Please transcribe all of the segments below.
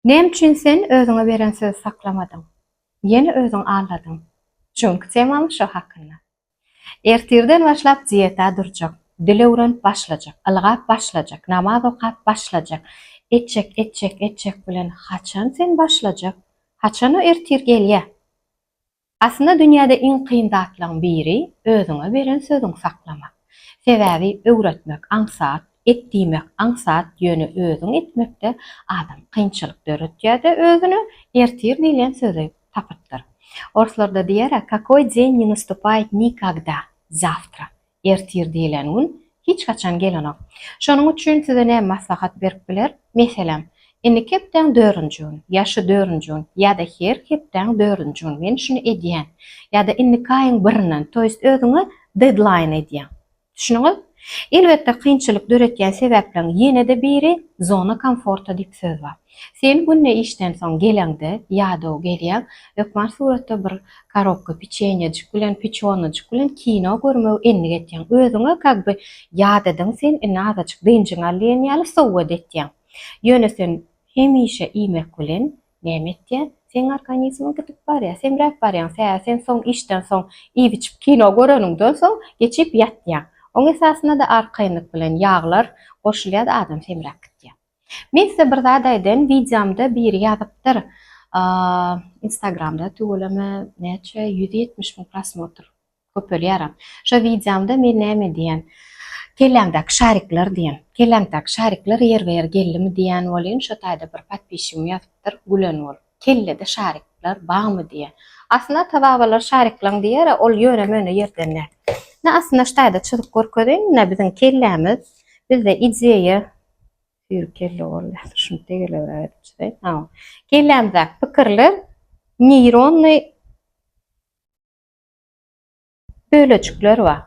Näme üçin sen özüňe beren sözi saklamadyň? Ýene özüň alladyň. Çünki temam şo hakynda. Ertirden başlap dieta durjak. Dil öwrenip başlajak. Ylgap başlajak. Namaz okap başlajak. Etjek, etjek, etjek bilen haçan sen başlajak? Haçan o ertir gelýä? Aslynda dünýäde iň kyn zatlaryň biri özüňe beren sözüňi saklamak. Sebäbi öwretmek aňsat, et diýmek aňsat ýöne özüň etmekde adam kynçylyk döretýärde özüne ertir diýlen sözi tapypdyr. Orslarda diýer-ä kakoý deň ne nastupayet nikagda, zawtra. Ertir diýlen gün hiç haçan gelenok. Şonuň üçin size näme maslahat berip biler? Meselem, indiki hepdäň dördünji gün, ýa şu dördünji gün, ýa-da her hepdäň dördünji gün men şuny edýän, ýa-da indiki aýyň birinden, to ýest özüňe deadline edýäň. Düşdüňiz? Elbetde, kynçylyk döretýän sebäpleriň ýene-de biri zona komforta diýip söz bar. Sen günde işden soň geleňde, ýadaw gelýäň, hökman suratda bir korobka piçenýejik bilen, piçonajyk bilen kino görmegi endik etýäň. Özüňe как бы ýadadyň sen, indi azajyk dynjyňy al diýen ýaly sowgat etýäň. Ýöne sen hemişe iýmek bilen näme etýäň? Seň organizmiň gidip barýar, semräp barýaň, sebäbi sen soň işden soň iýip-içip kino göreniňden soň geçip ýatýaň. Oň esasynda-da arkaýynlyk bilen ýaglar goşulýar-da adam semräp gidýär. Men size bir zat aýdaýyn wideomda biri ýazypdyr instagramda tüweleme näçe ýüz ýetmiş müň prosmotr köpelýäram şo wideomda men näme diýen kelläňdäki şarikler diýen kelläňdäki şarikler ýerbe ýer geldimi diýen welin şo taýda bir podpisçigim ýazypdyr gülen bolup kellede şarikler barmy diýen aslynda ata babalar şarikleň diýere ol ýöne möne ýerden däl aslynda şu taýda çyzyp görkezeýin munde biziň kellämiz bizde ideýa Süýri kelle bolýar. Şuny tegelebräk edip çyzaýyn. Hawa. Kellämizdäki pikirler neýronny bölejikler bar.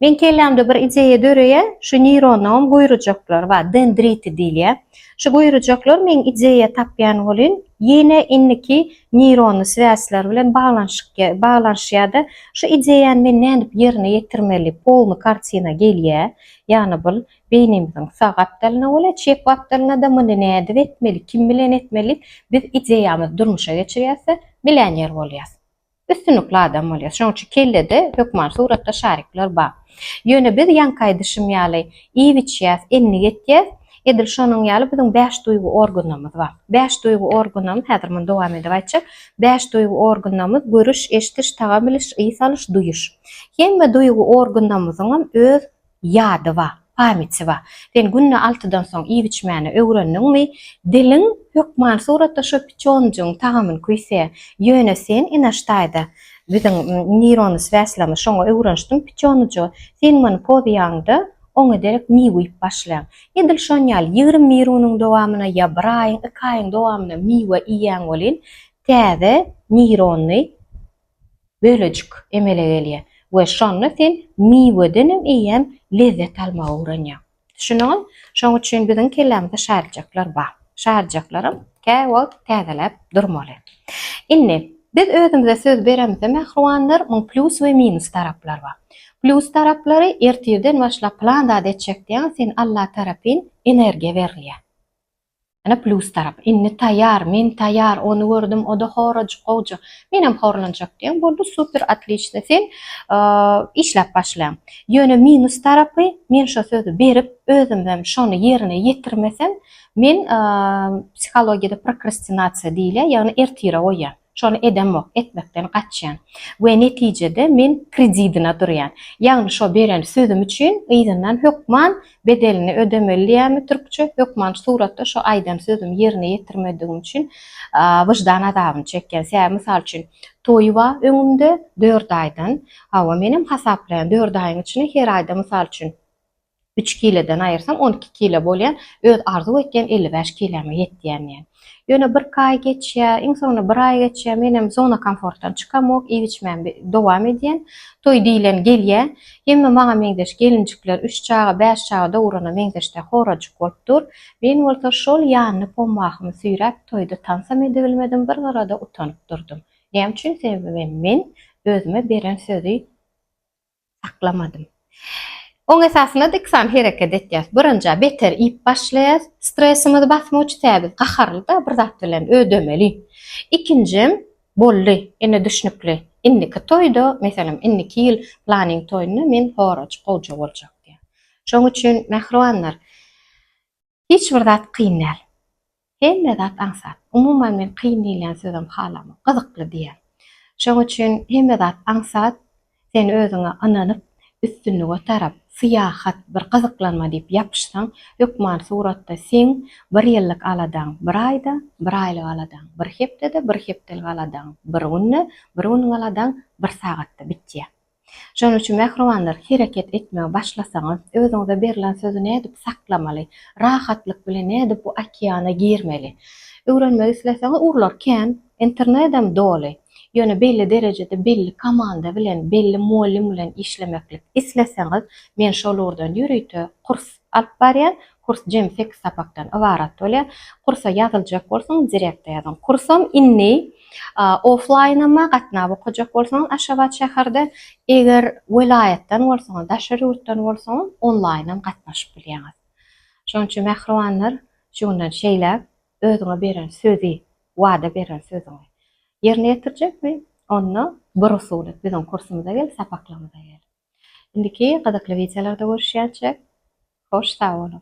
Men kellämde bir ideýa döreýär, şu neýronlaňam guýrujaklary bar, dendriti diýilýär. Şu guýrujaklar meň ideýa tapýan welin, ýene indiki neýronny swýazlar bilen baglanyşyk baglanyşýar-da, şu ideýany men nädip ýerine ýetirmeli, polny kartina gelýär. Ýagny bul Beýnimiziň sag gapdalyna bolýar, çep gapdalyna-da muny nädip etmeli, kim bilen etmeli diýip, biz ideýamyzy durmuşa geçirýäs-de, millioner bolýas. Üstünlikli adam bolýas. Şonuň üçin kellede hökman suratda şarikler bar. Ýöne biz ýaňky aýdyşym ýaly, iýip-içýäs, endik etýäs. Edil şonuň ýaly biziň bäş duýgy organymyz bar. Bäş duýgy organymyz, häzir muny dowam edip aýtjak, bäş duýgy organymyz, görüş, eşdiş, tagam biliş, ys alyş, duýuş. Hemme duýgy organymyzyňam öz Ýady ba, pamýti ba. Sen günde altydan soň iýip-içmäni öwrendiňmi? Diliň hökman suratda şo piçonjygyň tagamyny küýse. Ýöne sen, Inaş daýza, biziň neýrony sväslama şoňa öwrenşdiň piçonujy. Sen muny pozyýaňda oňa derek miw iýip başlaň. Edil şon ýaly ýigrimi bir günüň dowamyna ýa bir aýyň, iki aýyň dowamyna miwe iýýäň welin, täze neýrony bölejik emele gelýär we şonda sen miwedenem eýýäm lezzet almagy öwrenýäň. Düşündiňiz? Şonuň üçin biziň kellämizde şaryjaklar bar. Şaryjaklaram käwagt täzeläp durmaly. Indi, biz özümize söz beremizde, mähribanlar, muň plýus we minus taraplary bar. Plýus taraplary, ertirden başlap plan zat etjek diýýäň, sen Alla tarapyn energiýa berilýär. Ene plus tarap. Inni taýýar, men taýýar, ony gördüm, oda horajyk gowja. Menem horlanjak diýen boldy, super otliçno sen işläp başla. Ýöne minus tarapy, men şo sözi berip, özümem şony ýerine ýetirmesem, men psihologiýada prokrastinasiýa diýilýär, ýagny ertire goýýan. Şony edemok, etmekden gaçýan we netijede men kredidine durýan. Ýagny şo beren sözüm üçin yzyndan hökman bedelini ödemeli diýýärmi türkçe, hökman suratda şo aýdan sözümi ýerine ýetirmedigim üçin wyždan azabyny çekýän. Sebäbi mysal üçin toýy ba öňümde dört aýdan, hawa menem hasaplaýan dört aýyň içine her aýda mysal üçin Üç kileden aýyrsam, on iki kile bolýan, öz arzuw etýän elli bäş kiläme ýetýän diýen. Ýöne birki aý geçýär, iň soňunda bir aý geçýär, menem zona komfortdan çykamok, iýip-içmämi dowam edýän. Toý diýlen gelýä, hemme maňa meňzeş gelinjikler, üç çaga, bäş çaga dogurana meňzeş-de horajyk bolup dur. Men bolsa şol ýanly pommahymy süýräp, toýda tansam edibilmedim, bir gyrada utanyp durdum. Näme üçin? Sebäbi men özüme beren sözi. Saklamadym. Oň esasynda-da iki sany hereket etýäs. Birinji, beter iýip başlaýas. Stresimizi basmak üçin, sebäbi biz gaharly-da, bir zat bilen ödemeli. Ikinji, boldy, ine düşnükli. Indiki toýda, meselem, indiki ýyl planyň toýunda men horajyk gowja boljak diýýän. Şoň üçin, mähribanlar, Hiç bir zat kyn däl. Hemme zat aňsat. Umuman men kyn diýilýän sözem halamok. Gyzykly diýýän. Şoň üçin hemme zat aňsat. Sen özüňe ynanyp, üstünlige tarap, syýahat, bir gyzyklanma diýip ýapyşsaň, hökman suratda seň bir ýyllyk aladaň, bir aýda, bir aýlyk aladaň, bir hepdede, bir hepdelik aladaň, bir günde, bir günüň aladaň bir sagatda bitýär. Şonuň üçin mähribanlar, hereket etmegi başlasaňyz, özüňize berlen sözi nädip saklamaly, rahatlyk bilen nädip bu okeana girmeli? Öwrenmek isleseňiz, urlar kän, internedem doly. Ýöne belli derejede belli komanda bilen, belli mugallym bilen işlemeklik isleseňiz, men şol ugurdan ýörite kurs Alyp barýan kurs jemi sekiz sapakdan ybarat bolýar. Kursa ýazyljak bolsaňyz direkte ýazyň. Kursam indi oflaýnama gatnap okajak bolsaňyz Aşgabat şäherde, eger welaýatdan bolsaňyz, daşary ýurtdan bolsaňyz onlaýnam gatnaşyp bilýäňiz. Şonuň üçin mähribanlar, şu günden şeýläk özüňe beren sözi, wada beren sözüňi ýerine ýetirjekmi? Onda bir usuly biziň kursumyza gel, sapaklarymyza gel. Indiki gyzykly wideolarda görüşýänçek hoş sag boluň.